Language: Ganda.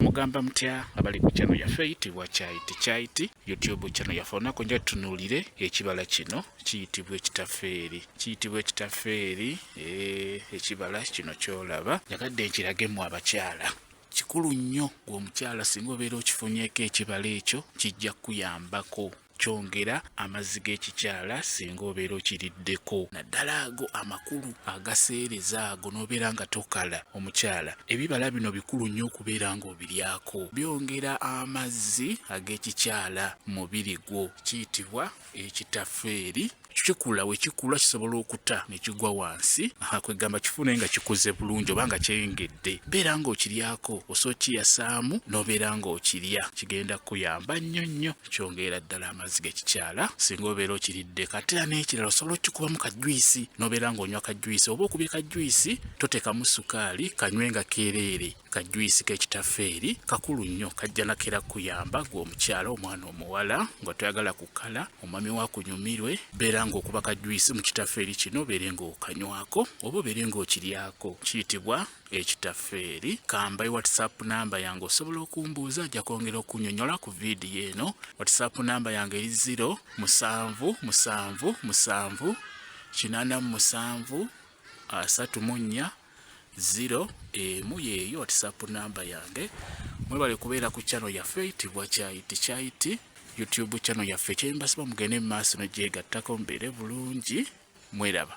mugamba mutya abali ku channel yaffe eyitibwa kyayiti kyayiti youtube channel yaffe olunaku nja tutunuulire ekibala kino kiyitibwa ekitafeeri kiyitibwa ekitafeeri eh, ekibala kino kyolaba nyagadde nkiragemu abakyala kikulu nnyo gwe omukyala singa obeera okifunyeko ekibala ekyo kijja kukuyambako kyongera amazzi g'ekikyala singa obeera okiriddeko naddala ago amakulu agaseereza ago n'obeera nga tokala omukyala ebibala bino bikulu nnyo okubeera ng'obiryako byongera amazzi ag'ekikyala mubiri gwo kiyitibwa ekitafeeri kikula wekikula kisobola okuta nekigwa wansi kwegamba kifune nga kikuze bulungi oba nga kyeyongedde beera nga okiryako osobola okiyasaamu nobeera nga okirya kigenda kukuyamba nnyo nnyo kyongeera ddala amazzi gekikyala singa obeera okiridde katera n'ekirala osobola okikubamu kajwisi nobeera nga onywa kajwisi oba okubye kajwisi totekamu sukaali kanywe nga kereere kajuyisi kekitafeeri kakulu nnyo kajja nakera kuyamba gwe omukyala omwana omuwala nga toyagala kukala omwami wakunyumirwe beera ngaokuba kajuyisi mu kitafeeri kino beere ngaokanywako oba obeere ngaokiryako kiyitibwa ekitafeeri kambayi whatsapp namba yange osobola okumbuuza ajja kwongera okunyonyola ku vidiyo eno whatsapp namba yange eri 0 musanvu musanvu musanvu kinana mu musanvu asatu mu nnya zero emu yeeyo whatsapp namba yange mwebale kubeera ku channel yaffe eyitibwa kyayiti kyayiti youtube channel yaffe kyembasiba mugende mu maaso negyegattako mbeere bulungi mweraba